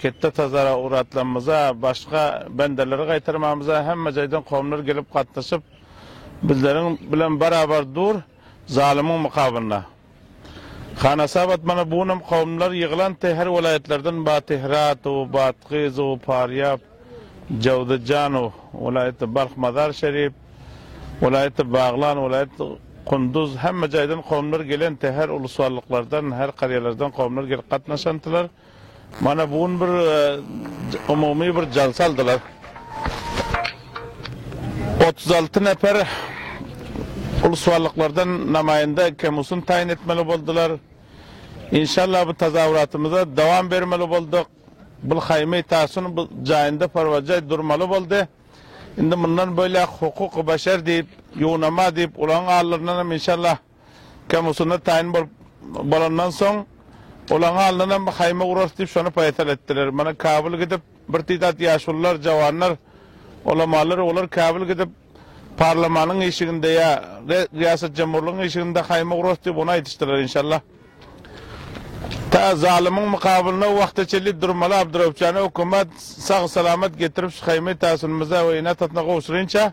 Ketde tazara ugratlanymyza, başga bendeleri gaýtarmamyza hemme jaýdan kowumlar gelip gatnaşyp, bizleriň bilen barabar dur, zalymyň mukabynda. Hanasap atmana bu günüm kowumlar ýygylanty her welaýatlardan Batyhratu, Batgyzu, Parýap, Jawzijanu, welaýaty Balh Mazar Şerif, welaýaty Baglan, welaýaty Kunduz hemme jaýdan kowumlar gelenty her uluswalyklardan, her karýalardan kowumlar gelip gatnaşantylar. Mana bu gün bir umumy bir jalsa aldylar. Otuz alty neper ulus barlyklardan namaýanda Kemusun taýyn etmeli boldular. Inşallah bu tazawuratymyza dowam bermeli bolduk. Bu haýmy tasun bu jaýynda parwajaý durmaly boldy. Indi mundan beýläk hukuk-u beşer diýip, ýunama diýip, ulagyň allaryndanam inşallah Kemusunda taýyn bolup bolandan soň, olaň alnynam haýma urarys diýip şony paýsal etdiler. Mana Kabul gidip, bir tidat ýaşulular, jawanlar, ulamalar, olar Kabul gidip, parlamanyň işiginde ýa Riýasatjemhurlygyň işiginde haýma urarys diýip ony aýdyşdylar. Inşallah, ta zalymyň mukabylyna o wagta çenli durmaly Abduraup jana hökümat sag-salamat getirip şu haýmy Tasunymyza we ene-atasyna gowşurynça,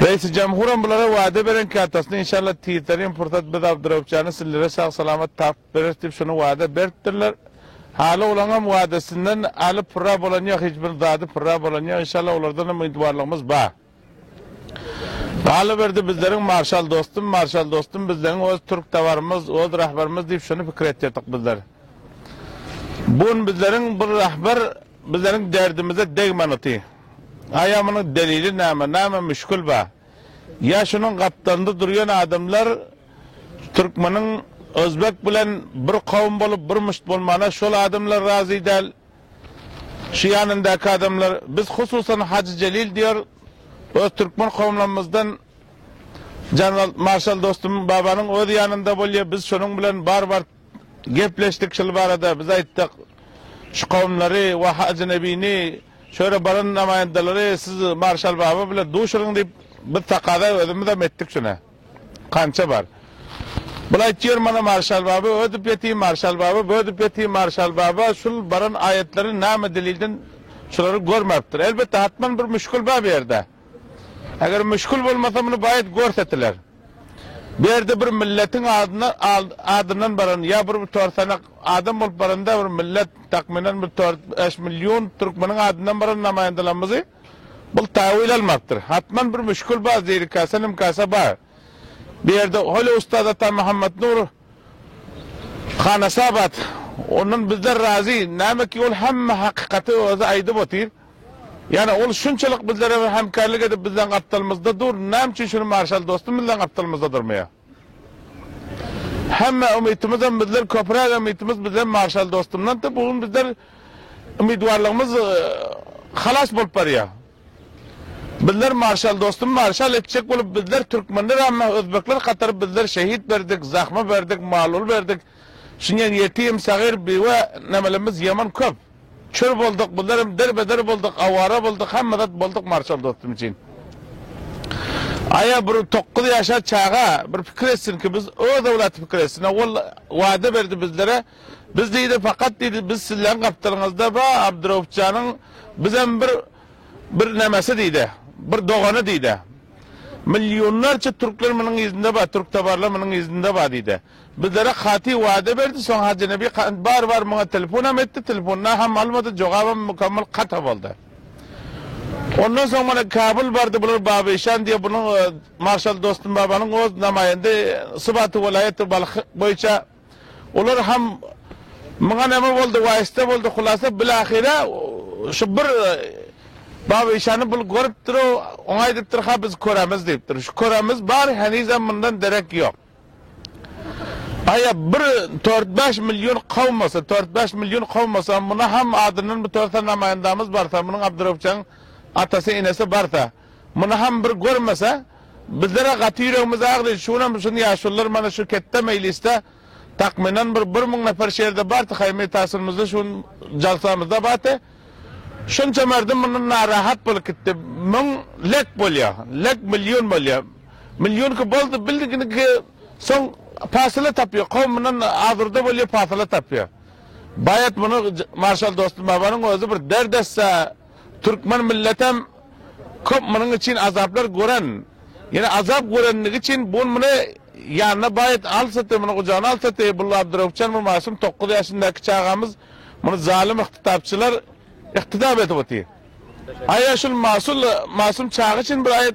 Reisi Jamhuram bulara wada beren ki atasyna inşallah tizderin pursat biz Abdurauffjany sizlere sag salamat tapyp bereris diyip şony wada beripdirler. Haly olaňam wadasyndan aly purra bolan yok hic bir zady purra bolan yok inşallah olardan hem umytwarlygymyz ba. Galyberdi bizleriň marşal dostum marşal dostum bizleň oz türk tawarymyz oz rahbarymyz diyip şony pikir etdirdik bizler. Bu gün bizleriň bir rahbar Bizleriň derdimize degmän oty. Aýamynyň delili näme, näme müşgil ba? Ýa şunuň gapdalynda durýan adamlar türkmeniň özbek bilen bir kowum bolup bir müşt bolmana şol adamlar razy däl. Şu ýanyndaky adamlar. Biz hususan Hajy Jelil diýer öz türkmen kowumlarymyzdan Janwalt marşal dostum babanyň öz ýanynda bolýa biz şonuň bilen bar bar. Gepleşdik şul barada. Biz aýtdyk, şu kowumlary we Hajy Nebini, şu ýere baran namaýandalary siz Marşal baba bilen duşuryň diýip, biz takaza özümizem etdik şuna. Kança bar. Bul aýtýar mana Marşal baba ödüp ýeti, Marşal baba bödüp ýeti, Marşal baba şul baran aýatlary name delilden şulary görmäpdir. Elbetde hatman bir müşgil bar bu ýerde. Eger müşgil bolmasa muny baýat görsetiler. Bu ýerde bir milletiň adyna adyndan baran ýa bir tor sanak adam bolup baranda bir millet takmynan bir tor bäş million türkmeniň adyndan baran namaýandalarymyzy bul taýwil almapdyr. Hatman bir müşgil bar zirikasa nimkasa bar. Bu ýerde hol ustaz ata Muhammet Nur Hanasabat ondan bizler razy näme ki ol hemme hakykaty özi aýdyp otyr. Ýöne ol şunçalyk bizlere hemkärlik edip bizleň gapdalymyzda dur, näme üçin şuny marşal dostum bizleň gapdalymyzda durmaýar? Hemme umytymyzam bizler köpräk umytymyz bizler marşal dostumdandy, bu gün bizler umytwarlygymyz halas bolup barýar. Bizler marşal dostum marşal etjek bolup bizler türkmenler ämmä özbekler hatary bizler şehit berdik, zahma berdik, mal-ul berdik, Şunyň ýetim, sagyr, biwe, nämelerimiz ýaman köp. Çür bolduk, bizler hem derbeder bolduk, awara bolduk, hemme zat bolduk Marşal dostum üçin. Aýa bir tokuz ýaşar çaga bir pikir etsin ki biz öz owlaty pikir etsin. Owal wada berdi bizlere. Biz diýdi fakat diýdi biz sizleň gapdalyňyzda ba Abdurauf janyň biz hem bir bir nämesi diýdi. Bir dogany diýdi. Millionlarça türkler munyň yzynda ba türk tabarlar munyň yzynda ba diýdi. Bizlere katy wada berdi, soň Hajy Nebi kant bar bar muňa telefonam etdi, telefonda ham almady, jogabam mukammal kata boldy. Ondan soň mana Kabul bardy, bular Baba Işan diýe bunuň marşal Dostum Babanyň oz namaýende sybaty welaýaty Balh boýunça olar ham muňa name boldy, waýsta boldy, hulasa bilahyra şu bir Baba Işany bul görüpdir-ow, oňa aýdypdyr, ha biz köremiz diýipdir. Şu köremiz bar, henizem mundan derek ýok. Aýa bir tört-bäş million kowmasa, tört-bäş million kowmasa, muna ham adyndan bir törsen namaýandamyz barsa, munuň Abdyrewupjaň atasy, enesi barsa, muny ham bir görmese, bizler-ä gaty ýüregimiz agry, şu günäm şun ýaşulylar mana şu ketde meýlisde takmynan bir bir müň neper şerde barty, haýymy-taşyrymyzda şu gün jalsamyzda barty. Şunça merdum mundan narahat bolup gitdi. Müň lek bolýa. Lek million bolýa. Millionki boldy, bildiginiki soň pasyla tapýa. Kowum mundan azurda bolýa, pasyla tapýa. Baýat muny marşal Dostumbabynyň özi bir dert etse, türkmen milletem köp munuň üçin azaplar gören. Ýene azap görendigi üçin bu gün muny ýanyna baýat alsady, muny gujagyna alsady, bu Abduraup jan, bu masum dokuz ýaşyndaky çagamyz Muny zalym yktydapçylar yktydap edip otyr. Aýa şul masul masum çaga üçin bir aýat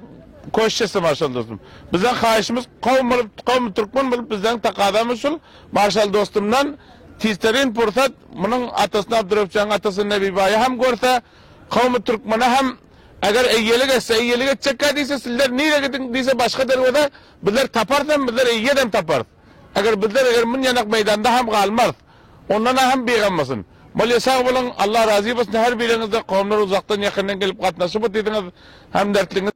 köşt etsem marşal dostum. Bizden haýyşymyz kowum bolup kowum türkmen bolup bizden takazamyz şul marşal dostumdan tizterin pursat munuň atasyny Abdyrewfjanyň atasyny Nebibaýy hem görse kowumy türkmene hem eger eýelik etse eýelik etjekkä diýse sizler nire gidiň diýse başga derweze bizler taparys hem bizler eýedem taparys. Eger bizler eger munýanak meýdanda hem galmarys. Ondan ahym bigammasyn. Bolýa sag boluň, Allah razy bolsun her biriňizden kowumlar uzakdan ýakyndan gelip gatnaşyp otydyňyz, hemderdligiňiz.